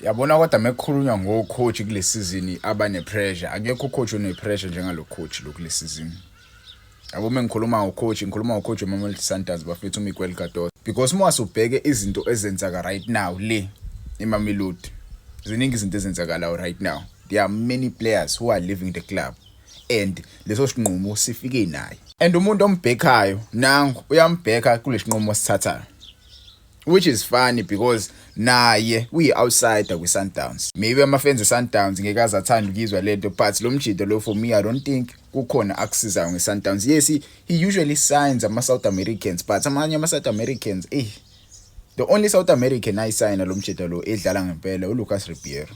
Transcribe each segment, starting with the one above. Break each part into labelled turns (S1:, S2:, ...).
S1: Yabona kodwa mekukhulunywa ngo coach kule season abane pressure akekho coach one pressure njengalo coach lo kule season yabo mengikhuluma ngo coach ngikhuluma ngo coach weMamelodi Sundowns bafethu uMiguel Cardoso because uma wasubheke izinto ezenzaka right now le eMamelodi ziningi izinto ezenzakalayo right now there are many players who are leaving the club and leso sinqumo sifike naye and umuntu ombhekhayo nangu uyambheka kulesi nqumo sithathayo which is funny because naye uyi-outsider kwi-sundowns maybe amafenzi e-sundowns ngeke aze athanda ukuyizwa le nto but lo mjido lo for me i don't think kukhona akusizayo nge-sundowns yes he, he usually signs ama-south americans but amanye ama-south americans eyi the only south american ayisayina lo mjido lo edlala ngempela ulucas ribiero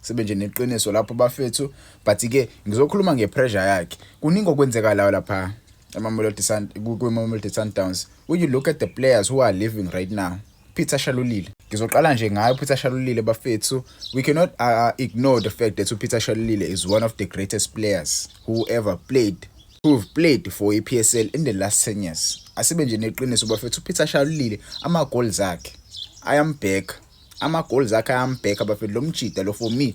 S1: sibe nje neqiniso lapho bafethu but ke ngizokhuluma ngepressure yakhe kuningi okwenzekalayo lapha emamelodi kwimamelodi sundowns when you look at the players who are living right now peter shalulile ngizoqala nje ngayo upeter shalulile bafethu we cannot uh, uh, ignore the fact that upeter shalulile is one of the greatest players who ever played who've played for ipsl in the last 10 years asibe nje neqiniso bafethu upeter shalulile ama-goals akhe ayambheka ama goals akhe ayambheka bafethu lo mjida lo for me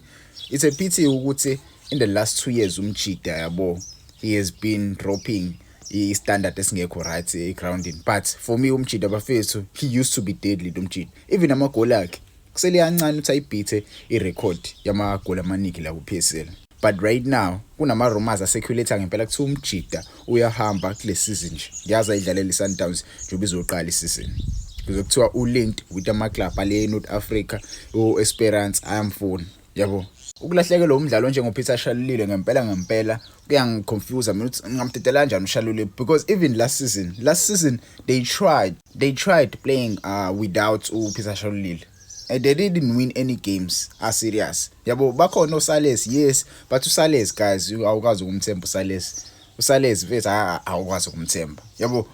S1: it's a pity ukuthi in the last two years umjida yabo he has been dropping i-standard esingekho right e-groundini but for me umjida bafethu he used to be deadly lo mjida even amagoli akhe kusele kancane ukuthi ayibhithe irekhodi yamagoli amaningi la ku-p s l But right now kunama rumors acirculate ngempela kuthi umjida uyahamba kule season nje. Ngiyazi ayidlalela iSundowns njengoba izoqala isizini. Kuze kuthiwa ulinked with ama club ale North Africa, uEsperance ayamfuna. Yabo. Ukulahlekelwa umdlali onjengoPeter Shalulile ngempela ngempela kuyangiconfuse mina ukuthi ngingamdedela kanjani uShalulile because even last season last season they tried they tried playing uh, without uPeter Shalulile and they didn't win any games are serious yabo bakhona oSales yes but uSales guys awukazi ukumthemba uSales uSales mfethu awukwazi ukumthemba yabo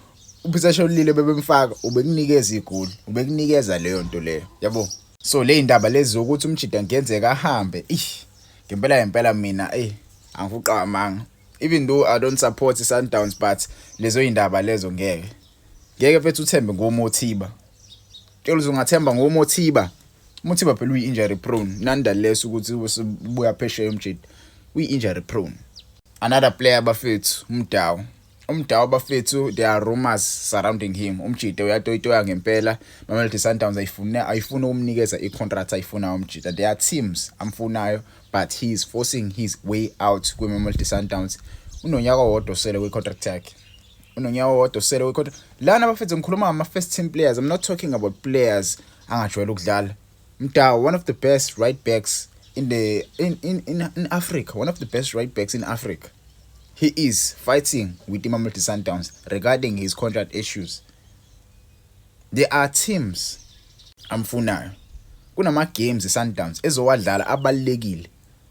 S1: uphithasha olile bebemfaka ubekunikeza igoli ubekunikeza leyo nto leyo yabo so le ndaba lezi zokuthi umjida ngenzeka ahambe ih ngempela ngempela mina eh angifuqamanga even though i don't support sundowns but lezo indaba lezo ngeke ngeke mfethu uthembe ngomothiba Tshela uzungathemba ngomothiba. Umothiba phela uyi injury prone. Nonetheless ukuthi ubuya phesheya umjidi. Uyi injury prone. Another player bafethu umdawu. Umdawu bafethu there are rumors surrounding him. Umjidi uyatoyitoya ngempela. Mamelodi Sundowns ayifune ayifuna ukumnikeza icontract ayifuna umjidi. There are teams amfunayo but he is forcing his way out kwiMamelodi Sundowns. Unonyaka owodwa sele kwicontract yakhe. unonyawo wodwa usele wekhotha lana bafethu ngikhuluma ngama first team players i'm not talking about players angajwayele ukudlala mdawo one of the best right backs in the in, in, in, in africa one of the best right backs in africa he is fighting with imamelodi sundowns regarding his contract issues there are teams amfunayo kunama games esundowns ezowadlala abalekile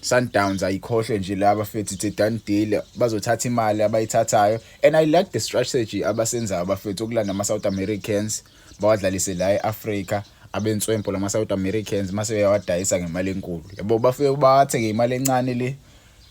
S1: Sundowns ayikhohlwe nje laba fethi it's a done deal bazothatha imali abayithathayo and i like the strategy abasenzayo abafethu okulanda ama South Americans bawadlalise la eAfrica abenswempo lama South Americans mase uyawadayisa ngemali enkulu yabo bafike bathe ngemali encane le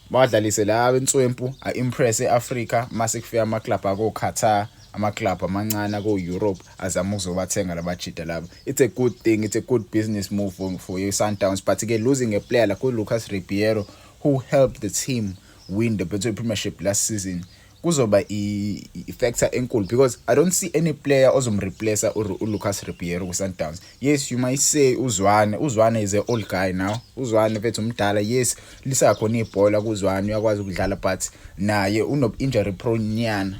S1: bawadlalise la abenswempu a impress eAfrica mase kufika ama club ako Qatar ama-club amancane ako-europe azama ukuzobathenga labajida laba it's a good thing it's a good business move for, for i-sundowns but-ke losing a player like u-lucas ribiero who helped the team win the betway premiership last season kuzoba i-factor enkulu because i don't see any player ozomreplacer ulucas ribiero kwi-sundowns yes you might say uzwane uzwane is a old guy now uzwane fethu umdala yes lisakhona ibhola kuzwane uyakwazi ukudlala but naye uno-injury prone nyana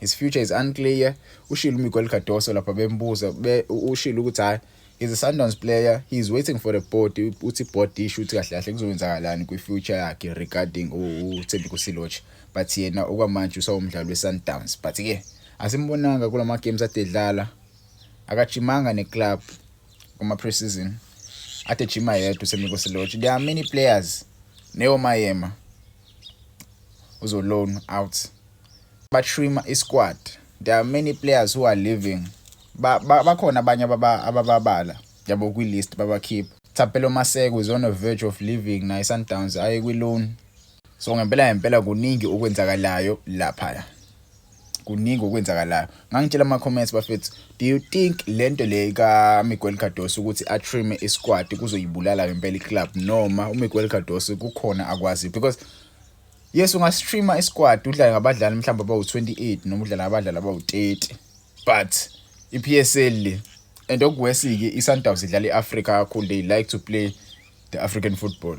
S1: his future is unclear ushilo uMiguel Cardoso lapha bembuza be, ushilo ukuthi hayi he's a Sundowns player he is waiting for the board uthi board isho ukuthi kahle kahle kuzokwenzakalani kwi future yakhe regarding uThembi Kusiloch but yena okwamanje usawumdlali weSundowns but ke asimbonanga kulama games adedlala akajimanga neclub kuma preseason ade jima yedwa uThembi Kusiloch there are many players neyo mayema uzoLoan out batrim isquad there are many players who are living bakhona abanye abababala yabo kwi-list babakhipha Thapelo Maseko is on a verge of leaving naye Sundowns aye kwi-loan so ngempela ngempela kuningi okwenzakalayo laphaya kuningi okwenzakalayo ngangitshela ama comments bafethu do you think lento le ka Miguel Cardoso ukuthi a trim i squad kuzoyibulala ngempela i club noma u Miguel Cardoso kukhona akwazi because yes unga streamer i squad udlala ngabadlali mhlawumbe abawu 28 noma udlala ngabadlali abawu 30 but i PSL le and okuwesike i Sundowns idlala i Africa kakhulu they like to play the African football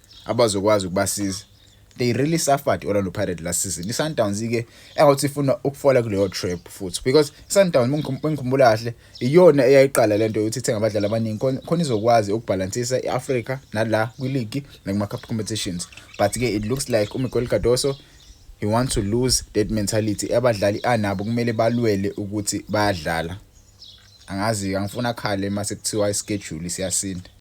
S1: abazokwazi ukubasiza they really suffered Orlando Pirates last season iSundowns ke engathi ifuna ukufola kuleyo trap futhi because iSundowns mengikhumbula kahle iyona eyayiqala lento yokuthi ithenga abadlali abaningi khona izokwazi ukubalansisa iAfrica nala kwileague nakuma cup competitions but ke it looks like uMiguel Cardoso he wants to lose that mentality abadlali anabo kumele balwele ukuthi bayadlala angazi angifuna khale mase kuthiwa ischedule siyasinda